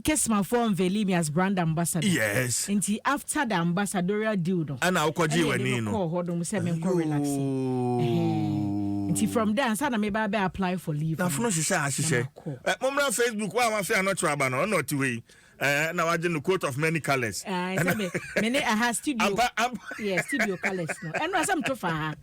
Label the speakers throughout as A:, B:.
A: Kisma
B: fo unveili me as brand ambassador. Yes. Nti
A: after the
B: ambassadorial deal no. Ɛna wokɔ gyee w'ani no. Ɛna yɛde
A: no kɔɔ hɔ nom sɛ menkɔ
B: relax. Ɛhɛn. Nti from there ansa na meba abɛ apply for leave no. Nafono hyehyɛ ahyehyɛ.
A: Na makɔ. Ɛ momra Facebook wa wafe ano kyerɛ aba no ɔna ɔte hɔ yi. Ɛ na wagye no coat of many colours. Ɛ sɛ me
B: ne aha studio. Ampa ampa. Yeah studio colours no. Ɛno asɛm to fa ha.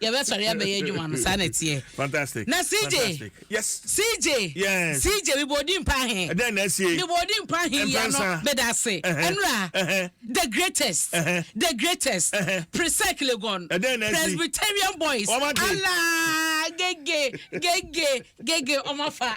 C: yɛbɛsɔre abɛyɛ adwuma no saa na ɛteɛ fantastic na
A: cj
C: yes cj
A: yes
C: cj mebɔ
A: odi mpa
C: he ɛdɛn na asie mebɔ odi
A: mpa he yɛ
C: no bɛda ase ɛnura the greatest the greatest presec legon presbyterian boys ala gege gege gege ɔmafa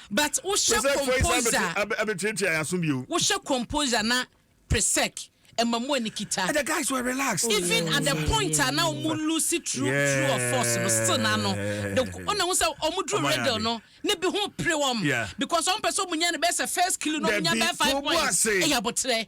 C: But wo hyɛ Presec foɔ yi san composer. bɛtu ab- abɛtuatua yɛn aso bio. Wo hyɛ composer na presec ɛma mu ani kita. And the guys were relaxed.
A: Even at the point
C: a na ɔmo lose true true or false no still na no the ɔna ho sɛ ɔmo duru Ɔmo ayɛ riddle ade. no ne bi ho pere wɔn Yeah. because ɔmo pɛ sɛ ɔmo nya ne bɛyɛ sɛ first kilo na ɔmo nya Dabi, bɛyɛ five to ɔmo points ase. ɛyɛ aboterɛ.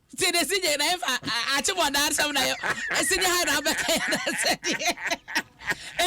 A: Nti ne se gye
C: na efa akyebɔdaa asɛm na yɛ se gye ha na abɛka yɛ na sɛ deɛ.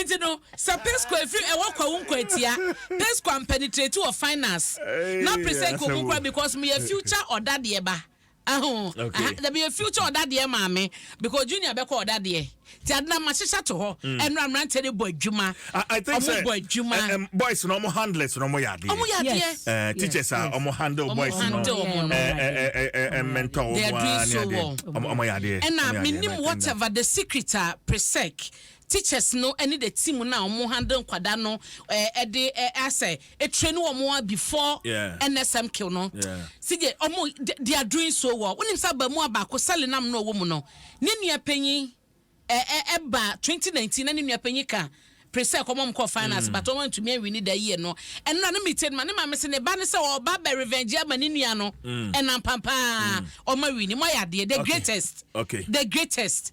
C: Nti no sɛ Pesco efiri ɛwɔ kwawu nkwatia Pesco ampenetrate wɔ finance na present ko mu kora because me yɛ future ɔdadeɛ ba. Aho aha da me yɛ future ɔdadeɛ maame because junior bɛkɔ ɔdadeɛ. Ti adi na ma hyehyɛ ato hɔ. Hmm. Ɛnura mmeranteɛ de bɔ adwuma. I think sɛ bɔ
A: adwuma. Eh, eh, boys
C: na ɔmo handlers
A: na ɔmo yɛ adeɛ. Ɔmo yɛ adeɛ. Eh, teachers a ɔmo handle boys na ɔmo eh mentor ɔmo a ne adeɛ.
C: Ɔmo yɛ adeɛ. Ɛna mi nim whatever the secret a presec teachers no ɛne the team na ɔmo handle nkwadaa no ɛde ɛsɛ. Ekyire no wɔn a before NSM kill no sigye wɔn they are doing so well wonim sɛ abaamuwa baako sɛle nam no ɔwɔ mu no ne nua panyin ɛɛ ɛba twenty nineteen na ne nua panyin ka presɛ kɔmɔ wɔn kɔ finance but wɔn antumi anwini da yie no ɛnna no meeting ma ne maame sɛ ne ba ne sɛ ɔba bɛ revenge ama ne nua no ɛnam pampaa wɔn awini mo ayɛ adeɛ the greatest the greatest.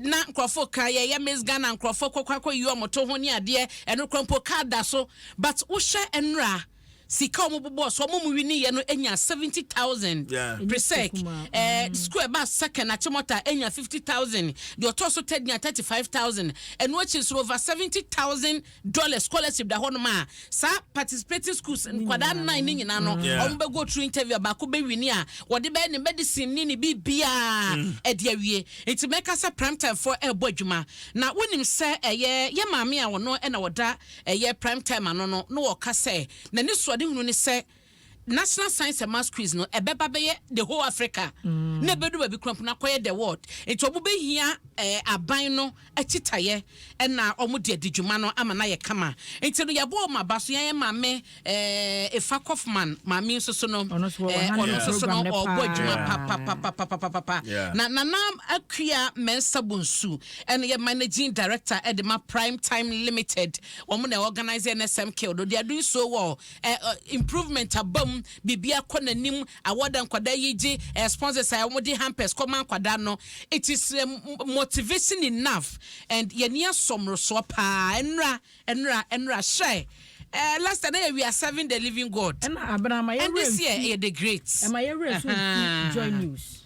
C: Na nkurɔfo ka yɛyɛ Miss Ghana nkurɔfo kɔ kɔ akɔyi wɔn to ho ne adeɛ ɛno koraa mpo car da so but wohwɛ nnora sika wɔn bobɔɔ so wɔn mu wini yɛ no nya seventy thousand Yeah. presec ɛɛ school ɛba second akyemɔta nya fifty thousand deɛ ɔtɔ so third nya thirty five thousand ɛno akyi nso over seventy thousand Dɔla scholarship da hɔ nom a saa participating schools nkwadaa nnan no nyinaa no wɔn bɛ go through interview a baako bɛ wini a wɔde bɛyɛ ne medicine ne ne biribiara ɛde awie nti mɛka sɛ prime time foɔ ɛrebɔ adwuma na wonim sɛ ɛyɛ yɛ maame a wɔno ɛna wɔda ɛyɛ prime time ano no no wɔka sɛ n'ani soɔde hunu ne sɛ National Science and Maths Quiz no, ɛbɛba bɛyɛ the whole Africa, na ɛbɛdu baabi koraa mpo no akɔyɛ the world. Nti wɔbɛhia ɛɛ aban no akyitaeɛ ɛna wɔde adi dwuma no ama no ayɛ kama. Nti no yɛabɔ wɔn aba, so yɛn maame ɛɛ Efa Koffman, maame nso so no, Ɔno nso wɔ ɛɛ ɔno Hansen nso so no program no ɔrebɔ adwuma paa. papapapapapapa. Yeah. Na Nana Akua Mensah Bonsu ɛna yɛ Managing Director ɛde ma Prime Time Limited, wɔn na ɛorganise NSM Kill no, they are doing so well. eh, improvement aba mu, biribi akɔ n'anim, award a nkwadaa yi gye, eh, sponsors a wɔde hampers kɔma nkwadaa no, it is eh, motivation enough, and yɛn ani asɔ mmorosoɔ paa. Ɛnora, ɛnora, ɛnora, hyɛ. Eh, last time na yɛ we are serving the living God. Ɛna abena ama yɛ And this year ɛyɛ the great. Ɛma yɛ werɛ so
B: fi joy news.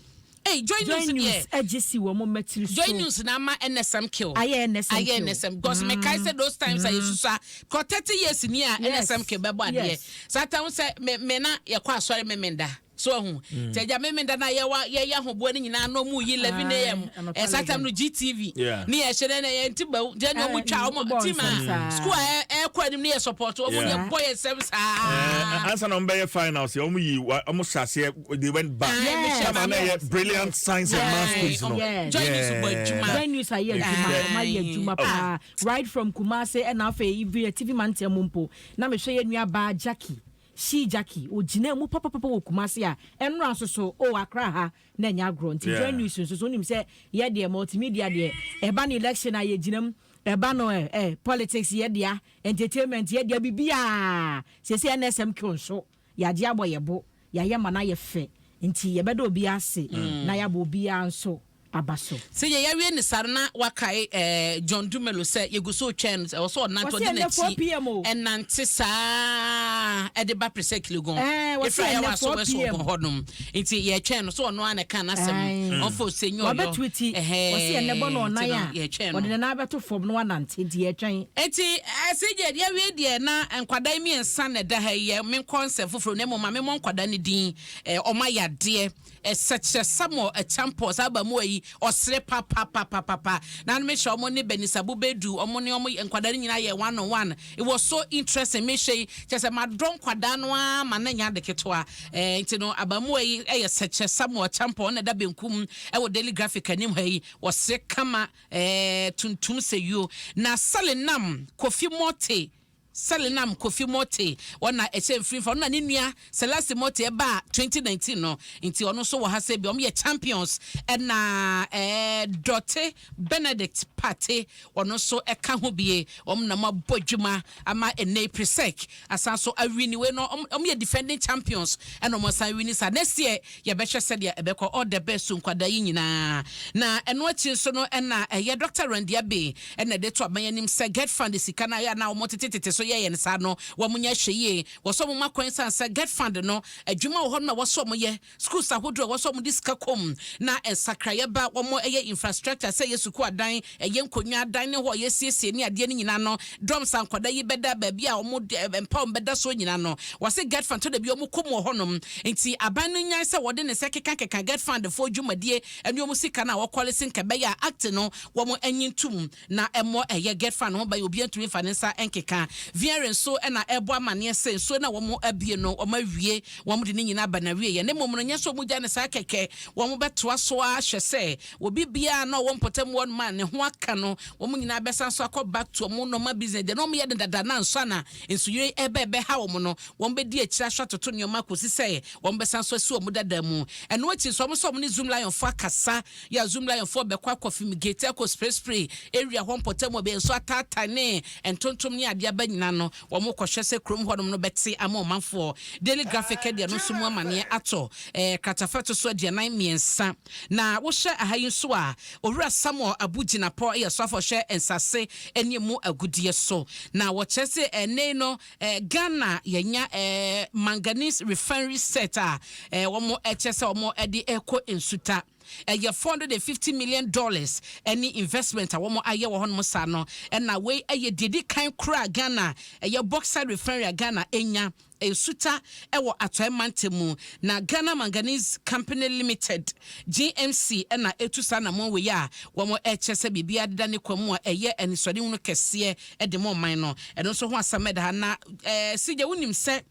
B: Ei joy news deɛ. Joy
C: news ɛgye si wɔn mma
B: tiri so. Joy news na ama NSM
C: kill. Ayɛ NSM kill. Ayɛ NSM
B: because me kae sɛ those
C: times a yɛ susu a kɔ thirty years ni a NSM kill bɛbɔ adeɛ. Saa time sɛ me me na yɛ kɔ asɔre me me da. So ahu. Te agya me me da na yɛ wa yɛ yɛ ahoboɔ ni nyinaa na ɔmo yi eleven AM. Ɛ saa time no GTV. Ni yɛ hyɛ nɛ yɛ nti bɛw. Jɛ ni ɔmo twa ɔmo team a school a ɛ ɛ kɔ anim ni yɛ support ɔmo yɛ bɔ yɛ nsɛm saa. Ansa na
A: ɔmo bɛyɛ finals yɛ ɔmo yi wa ɔmo hyɛ aseɛ. they went back. Yes. Yes. Ama na yɛ brilliant science and math kids no. Yes. Joy news bɔ adwuma.
B: Joy news ayɛ adwuma. Ɔmo ayɛ adwuma paa. Right from Kumasi ɛna afei even TV mantia mu mpo. Na mehwɛ yɛ nua baa Jackie. She Jackie. Ogyina mu papapapa wɔ Kumasi a. Ɛnora nso so. Oh Accra ha. Na ɛnyɛ agorɔ. Nti Joy news nso so. Onim sɛ yɛ deɛ multimedia deɛ. Ɛba no election a yɛ gyina mu. Ɛba no eh, eh, politics yɛ dea. Entertainment yɛ dea. Biribiara. Sese NSM kill nso. Yɛagye abɔ yɛn bo, yɛayɛ ma no ayɛ fɛ, enti yɛbɛda obiara ase na yɛabɔ obiara nso aba so. Sɛ yɛ yɛawie ne
C: saa no na wakae ɛɛ John Dumelo sɛ yɛgu so retwɛn no, ɛwɔ sɛ ɔnante, ɔde n'akyi nante saa ara de ba Presec Legon, ɛfiri Ayawaso West wɔ hɔnom. Nti yɛtwɛn no sɛ ɔno ara na ɛka n'asɛm no ɔmfa ose nyɛ ɔyɔ Wabɛto ti Ɔse yɛ nnɛ
B: bɔ no ɔnan a Ɔde ne nan abɛto fam na wanante Nti yɛtwɛn. Nti CJ
C: yɛwie deɛ na nkwadaa yi mmiɛnsa na ɛda ha yi ɛ menkɔ nsɛm foforɔ na mmom ma memmɔ nkwadaa no din ɛ wɔn ayɛ adeɛ ɛ Sɛkyerɛ Samuel Acheampong saa abaamua yi ɔsere papapapapapa na mehyɛ wɔn ne Bernice Aboubedou wɔn ne wɔn nkwadaa no nyinaa yɛ one on one It was so interesting me hwɛ yi kyɛ sɛ ma dɔ nkwadaa no ara ma na nya ade ketewa ɛɛ nti no abaamua yi ɛyɛ sɛkyɛ Samuel Champon na ɛda benkum ɛwɔ Daily Graphic anim ha yi wɔsrɛ kama ɛɛ tuntum sɛ yuo na Selinam Kofi Morte Selinam Kofi Morte ɔna ɛhyɛ mfirimfa ɔna ne nua Celeste Morte ɛba 2019 no nti ɔno nso wɔ ha sɛ bi wɔn yɛ champions ɛna ɛɛ dɔte Benedict Pate, ɔno nso ka ho bi. Wɔn na wɔabɔ adwuma ama ɛnnɛyi Presec asan nso awini wei no. Wɔn yɛ defending champions ɛna wɔn san wini saa. Nɛseɛ yɛbɛhwɛ sɛdeɛ ɛbɛkɔ. All the best to nkwadaa yi nyinaa. Na ɛno akyi nso no ɛna ɛyɛ Doctor Randy Abeng ɛna ɛde to aban anim sɛ GETFund de sika no a ɛyɛ a na wɔn tete tete so yɛɛyɛ no saa no wɔn nyɛ hwɛ yie. Wɔsɛ wɔn ma kwan ɛsiane sɛ GETFund no adwuma wɔ hɔ nom a wɔsɛ wɔn yɛ. Schools ahodoɔ ɛwɔ sɛ wɔn de sika kɔ mu na nsakraeɛ ba wɔn ɛyɛ infrastructure sɛ ɛyɛ sukuu adan ɛyɛ nkonnwa adan ne hɔ a yɛsiesie ne adeɛ no nyinaa no dorms a nkwadaa yi bɛda baabi a wɔn de mpa wɔn bɛda soɔ nyinaa no wɔse gert fund tɔ da bi wɔn kɔ mu wɔ hɔ nom nti aban no nyan sɛ wɔde ne sɛ keka keka gert fund foɔ dwumadie ɛne wɔn sika no a wɔkɔle se nka ɛbɛyɛ a act no wɔn anyi nto mu na ɛmɔ ɛyɛ gɛt fan ho ban, obiara ntumi mfa ne nsa nkeka. Viere nso na ɛrebɔ amanneɛ sɛ nsuo no a wɔabue no, wɔawie, wɔde ne nyinaa aba n'awieeɛ. Na mmom no, nyɛ sɛ wɔgya no saa kɛkɛ, wɔbɛtoa so ara hwɛ sɛ obi biara a na ɔwɔ mpɔtam hɔnom a ne ho aka no, wɔn nyinaa bɛsan so akɔ back to wɔn normal business. Deɛ na wɔyɛ no dada no ansa na nsuyire yi reba rebɛha wɔn no, wɔbɛdi akyire ahwɛ atoto nneɛma kɔsi sɛ wɔbɛsan so asi wɔn dada mu. Ɛno akyi nso, wɔn nso wɔne Zoomlionfoɔ akasa Yɛ Zoomlion foɔ bɛkɔ akɔ fumigate akɔ spray spray area hɔ mpɔtam wɔ baabi nso ataatae ne ntontom ne adeɛ aba nyinaa no wɔn mo kɔhwɛ sɛ kurom hɔ nom no bɛte ama ɔmanfoɔ Daily Graphic ɛdeɛ no nso mu amaneɛ atɔ ɛɛ kratafa ɛto so aduanan mmiɛnsa na wohyɛ aha yi nso a Owura Samuel Abu Jinapɔ yɛ soafo hwɛ nsase ɛne ɛmu agudeɛ so na wɔkyerɛ sɛ ɛnɛyi no Eh, Ghana yɛnya eh, manganese refinery set a eh, wɔn ɛkyɛ sɛ wɔn ɛde ɛkɔ nsuta ɛyɛ four hundred and fifty million dollars ɛne investment a wɔn ayɛ wɔ hɔnom saa no ɛna wei ɛyɛ deɛ di kan koraa Ghana ɛyɛ bauxite refinery a Ghana enya nsuta ɛwɔ atɔɛ mantam mu na Ghana Manganese Company Limited GMC ɛna etu saa na wɔn wei a wɔn ɛkyɛ sɛ biribi adeda ne kwan mu a ɛyɛ anisɔnehunu kɛseɛ de ma ɔman no. Ɛno nso ho asɛm ɛda ha. Na eh, Sigya, wonim sɛ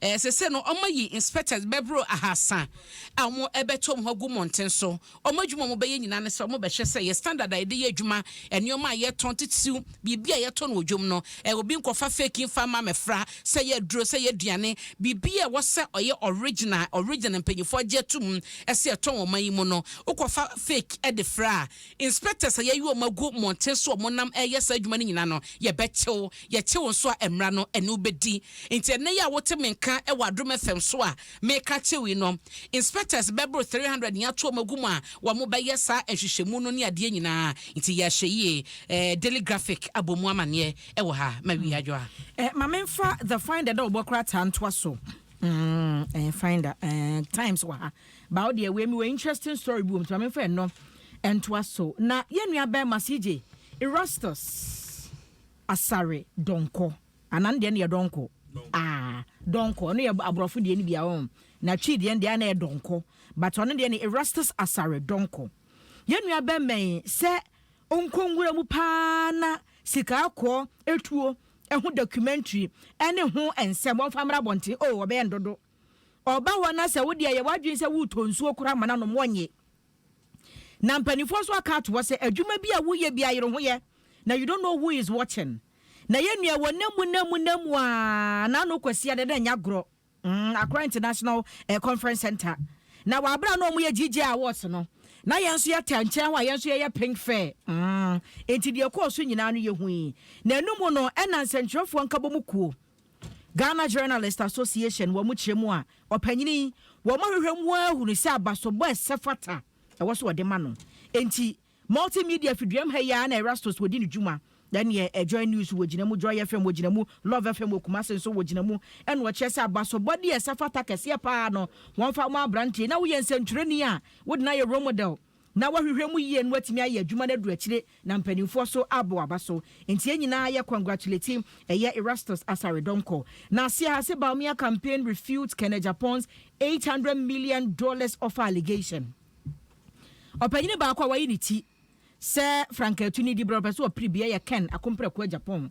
C: eh, sese no wɔayi inspectors bɛboro ahasa a wɔbɛtɔ wɔn ho agu mmɔnten so. Wɔn adwuma a wɔbɛyɛ nyinaa ne sɛ wɔbɛhwɛ sɛ yɛ standard a yɛde yɛ adwuma, nneɛma a yɛtɔn titiriw, biribi a yɛtɔ no wɔ dwom no, eh, obi nkɔfa fake mfa mma mmɛfra, sɛ ɛyɛ aduro, sɛ ɛyɛ aduane, biribi a ɛwɔ sɛ ɔyɛ original, original mpanyinfoɔ agye atum sɛ ɛtɔn wɔ ɔman yi mu no, wokɔfa fake de fra a, Inspectors a yɛayi wɔn agu mmɔnten so a wɔnam reyɛ saa adwuma no nyinaa no, yɛbɛkye wo. Yɛkye wo nso a, mmara no, ɛne wo bɛdi. Enti ɛnnɛ yi a wote me nka wɔ Adom FM so a mereka akyerɛ wo yi no, inspectors bɛboro three hundred na yɛato wɔn agu mu a wɔbɛyɛ saa nhwehwɛmu no ne adeɛ nyinaa. Enti yɛ ahwɛ yie. Eh, Daily Graphic abɔ mu amanneɛ wɔ ha. Mawie adwoa. Eh, ma memfa The
B: Finder dawɔbɔ krataa ntoa so. Mm, eh, Finder, eh, Times wɔ ha. Ba wo deɛ wei mewɔ interesting story bi wɔ mu nti ma memfa ɛno ntoa so. Na yɛn nua barima CJ Erastus Asare Donkɔ anaa ne deɛ no yɛ Dɔnkɔ ah Dɔnkɔ ɛno yɛ aborɔfo deɛ no bia wɔn na Twi deɛ no deɛ na yɛ Dɔnkɔ but ɔno deɛ no Erastus Asare Donkɔ yɛn nua barima yi sɛ ɔnkɔ nwura mu paa na sika akɔɔ etuo ɛho documentary ɛne ho nsɛm wɔmfa mmra abɔnten oh ɔbɛyɛ ndodo. Ɔba hɔ na sɛ wo deɛ yɛ w'adwene sɛ woretɔ nsuo koraa ma no anom, wɔnnye. Na mpanimfoɔ nso aka ato hɔ sɛ adwuma bi a woreyɛ biara yere ho yɛ, na you don't know who is watching. Na yɛn nua wɔ nna mu nna mu nna mu aa na ano Kwasiada na ɛnyɛ agorɔ. Mm, Accra International eh, Conference Centre. Na wɔ abere a na wɔyɛ GJ Awards no, na yɛn nso yɛtaa nkyɛn hɔ a yɛn nso yɛyɛ pink fair. Mm, enti deɛ ɛkɔɔ so nyinaa no yɛhui. Na ɛno mu no, ɛna nsɛntwerɛfoɔ nkabɔmu kuo, Ghana Journalist Association wɔn kyerɛmu a ɔpanyin yi wɔn hwehwɛ mu ara hunu sɛ abasobɔ a ɛsɛ fata ɛwɔ so wɔde ma no nti Multimedia fiduam ha yi ara na Erastus wɔdi ne dwuma ɛneɛ Ɛjoy News wɔgyina mu Joy FM wɔgyina mu Love FM wɔ Kumasi nso wɔgyina mu ɛna ɔkyerɛ sɛ abasobɔ deɛ ɛsɛ fata kɛseɛ paa no wɔmfa ma abranteɛ na woyɛ nsɛntwerɛni a wode no ayɛ role model na wahwehwɛ mu yie no watumi ayɛ adwuma no aduru akyire na mpanimfoɔ so abɔ aba so nti yɛn nyinaa yɛ congratulate ɛyɛ Erastus Asare Donkor na ase aha sɛ Bawumia campaign refutes Ken Agyapong's eight hundred million dollars offer allegation Ɔpanyini baako a wayi ne ti sɛ frankaatu no di berɛ a ɔpɛ sɛ ɔpere bi ɛyɛ Ken Akomprako Agyapong.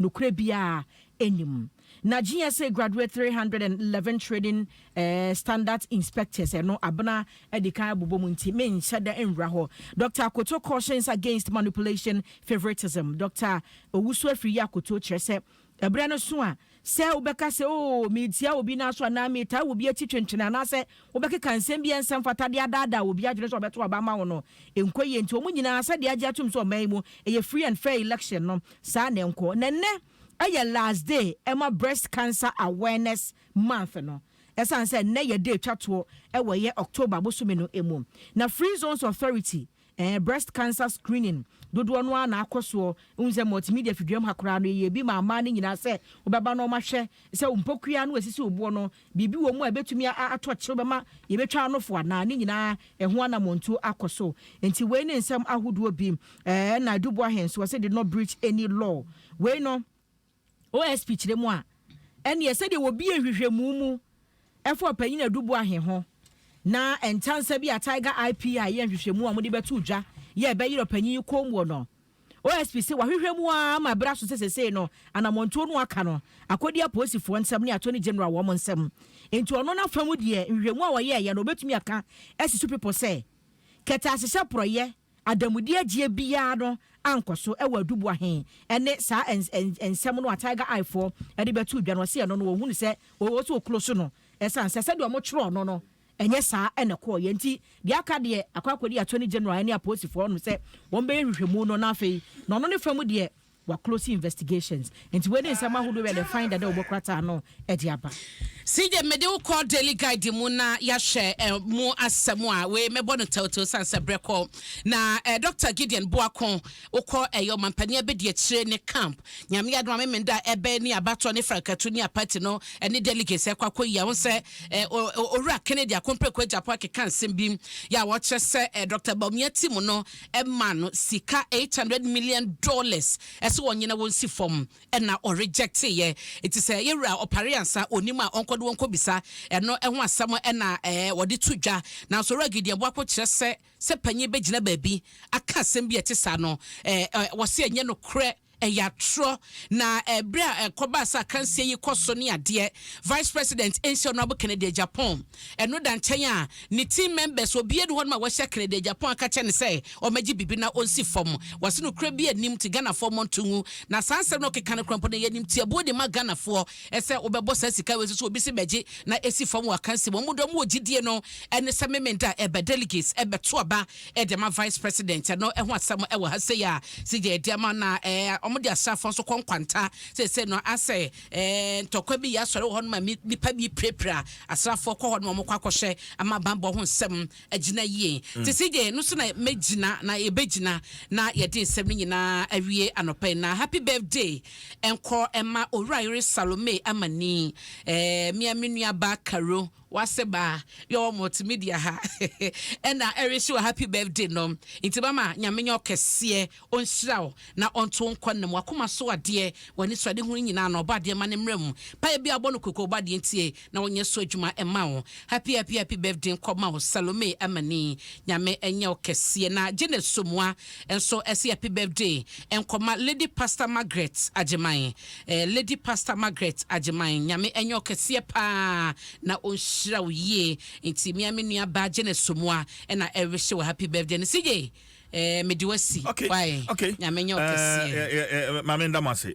B: Nokorɛ biara nni mu. Na GSA graduate three hundred and eleven trading eh, standards inspectors ɛno abena adi kan abobɔ mu nti me nhyɛ da nwura hɔ. Doctor Akoto cautions against manipulation, favouritism. Doctor Owusu Afriyie Akoto kyerɛ sɛ ɛberɛ no so a sɛ wobɛka sɛ oo metia obi nan so anaa metaa obi akyi twentwene anaasɛ Wobɛkeka nsɛm bi a ɛnsɛ mfata de adaadaa obi adwene sɛ ɔbɛto aba ama wo no, ɛnkɔ yie. Nti wɔn nyinaa, sɛdeɛ agye atom sɛ ɔman yi mu ɛyɛ free and fair election no, saa na ɛnkɔ. Na nnɛ ɛyɛ last day ɛma Breast Cancer Awareness Month no, ɛsiane sɛ nnɛ yɛde ɛtwa toɔ wɔ ɛyɛ October bosome no mu. Na Free Zones Authority Ɛɛ breast cancer screening dodoɔ no ara na akɔ soɔ wohu sɛ multimedia fi duam ha koraa no yɛyɛɛ bi maa mmaa no nyinaa sɛ wobɛba na wɔahwɛ sɛ wo mpokua no a ɛsisi wo boɔ no biribi wɔ mu a ɛbɛtumi a atɔ kyew bɛma yɛbɛtwa anofo anaa ne nyinaa ɛho anamɔntuo akɔ so nti wei ne nsɛm ahodoɔ bi ɛɛ ɛna Dubois Henso ɔse did not breach any law wei no OSP kyerɛ mu a, ɛnneɛ sɛdeɛ wɔbie nhwehwɛmu mu ɛfa ɔpanyin Adu Boahe ho na ntansa bi a Tiger Eye PI yɛ nhwehwɛmu a wɔde bɛto dwa yɛ ɛbɛyere ɔpanyin yi kɔn mu wɔ no, OSP se wɔahwehwɛ mu ara ma ɛbra so sɛ sesei no anamɔntuo no a aka no akɔdi apolisifoɔ nsam ne Attorney General wɔn nsam nti ɔno n'afa mu deɛ nhwehwɛmu a wɔyɛeɛ no ɔbɛtumi aka asi so bepɔ sɛ kɛtɛ ahyehyɛ porɔeɛ Adanmude agyeɛ biara no ankɔ so wɔ Aduboa he ne saa nsɛm no a Tiger Eye foɔ de bɛtoo dwa no. Ɔse ɛno no wɔhu no sɛ ɔwɔ sɛ ɔclose no esiane sɛ sɛdeɛ wɔkyerɛw no no nyɛ saa na ɛkɔɔeɛ nti. Deɛ aka deɛ akɔ akɔdi Attorney General ne apolisifoɔ no sɛ wɔbɛyɛ nhwehwɛmu no na afei na ɔno ne fa mu deɛ Wa close investigations nti wei ne nsɛm ahodoɔ wei a the finder dɛ wobɔ krataa no de aba. CJ mede wo
C: kɔ daily guide mu na yɛahwɛ mu asɛm a wei mɛbɔ no tɛwtɛw sane sɛ berɛ kɔ na Doctor Gideon Boako wokɔ ɛyɛ ɔmampanin abɛdiakyire ne camp Nyame yɛ adom a Memenda ɛbɛ ne abatoɔ ne frankatu ne apati no ne delegates ɛkɔ akɔ yi a wohu sɛ Owura Kennedy Akompreko Agyapong akeka nsɛm bi yɛ a wɔkyerɛ sɛ Doctor Bawumia team no ɛmaa no sika eight hundred million dollars ɛsɛ wɔn nyina wɔn si fam ɛna ɔrejɛkte yɛ eti sɛ yɛwura ɔpare ansa onim a ɔnkɔ de wɔn kɔ bisa ɛno ɛho asɛm ɛna ɛɛ wɔde to dwa nanso ɔwura gideɛ boako kyerɛ sɛ sɛ panyin bɛgyina baabi aka asɛm bi ɛte saa no ɛɛ wɔsi ɛnyɛ no korɛ Ɛyɛ atorɔ, na ɛberɛ a ɛkɔbaa sɛ akansie yi kɔ so ne adeɛ, Vice President nhyɛ Honourable Kennedy Agyapong, ɛno da nkyɛn a, ne team members, obiara nni hɔ nom a wahyia Kennedy Agyapong aka akyerɛ no sɛ ɔmmɛgye biribi na ɔnsi fam. Wɔse nokorɛ biara nnim nti Ghanafoɔ mmɔ nto ngu, na saa nsɛm no a ɔkeka no koraa mpo no ɛyɛ animtiabuo de ma Ghanafoɔ sɛ wobɛbɔ saa sika wei nso sɛ obi se bɛgye na ɛsi fam wɔ akansie mu. Wɔn deɛ wɔn wɔ gyidie no ne sɛ Memenda ɛbɛ delegates ɛbɛto aba Ɛde ama Vice President no ho asɛm wɔ ha sei a, CJ de ama na ɛɛ wɔde asraafoɔ nso kɔ nkwanta seesei no asɛ ɛɛ ntɔkwa bi yɛ asɔre wɔ hɔ nom a nnipa bi pirapira asraafoɔ kɔ hɔ nom a wɔkɔ akɔhwɛ ama banbɔ ho nsɛm agyina yie nti CJ no so na mɛgyina na yɛbɛgyina na yɛde nsɛm no nyinaa awie anɔpa yi na happy birthday nkɔ ɛma owura yere Salome Amani ɛɛ mea me nuabaa Karo Wase baa yɛwɔ multimedia ha ɛna ɛrehye wo happy birthday no nti mama nyame nyɛ ɔkɛseɛ ɔnhyira wo na ɔnto wo nkwa nna mu wakoma so adeɛ w'anisrade hunu nyinaa na ɔbɔ adeɛ ma no mmra mu payɛ biaa bɔ no koko ɔbɔ adeɛ ntie na ɔnyɛ so adwuma ɛma wo happy happy happy birthday nkɔ ma wo Salome Amani nyame nyɛ ɔkɛseɛ na gye n'asumua nso ɛse happy birthday nkɔma lady pastor Margaret Agyeman eh lady pastor Margaret Agyeman nyame ɛnyɛ ɔkɛseɛ paa na ɔnhyira wo yie nti mea me nua baa Jennet Somua ɛna ɛrewihye wo happy birthday no CJ eh mede wo asi
A: okay why
C: okay nyame nyɛ
A: ɔkɛseɛ
C: eh eh
A: eh eh maame
C: nda mo ase eh.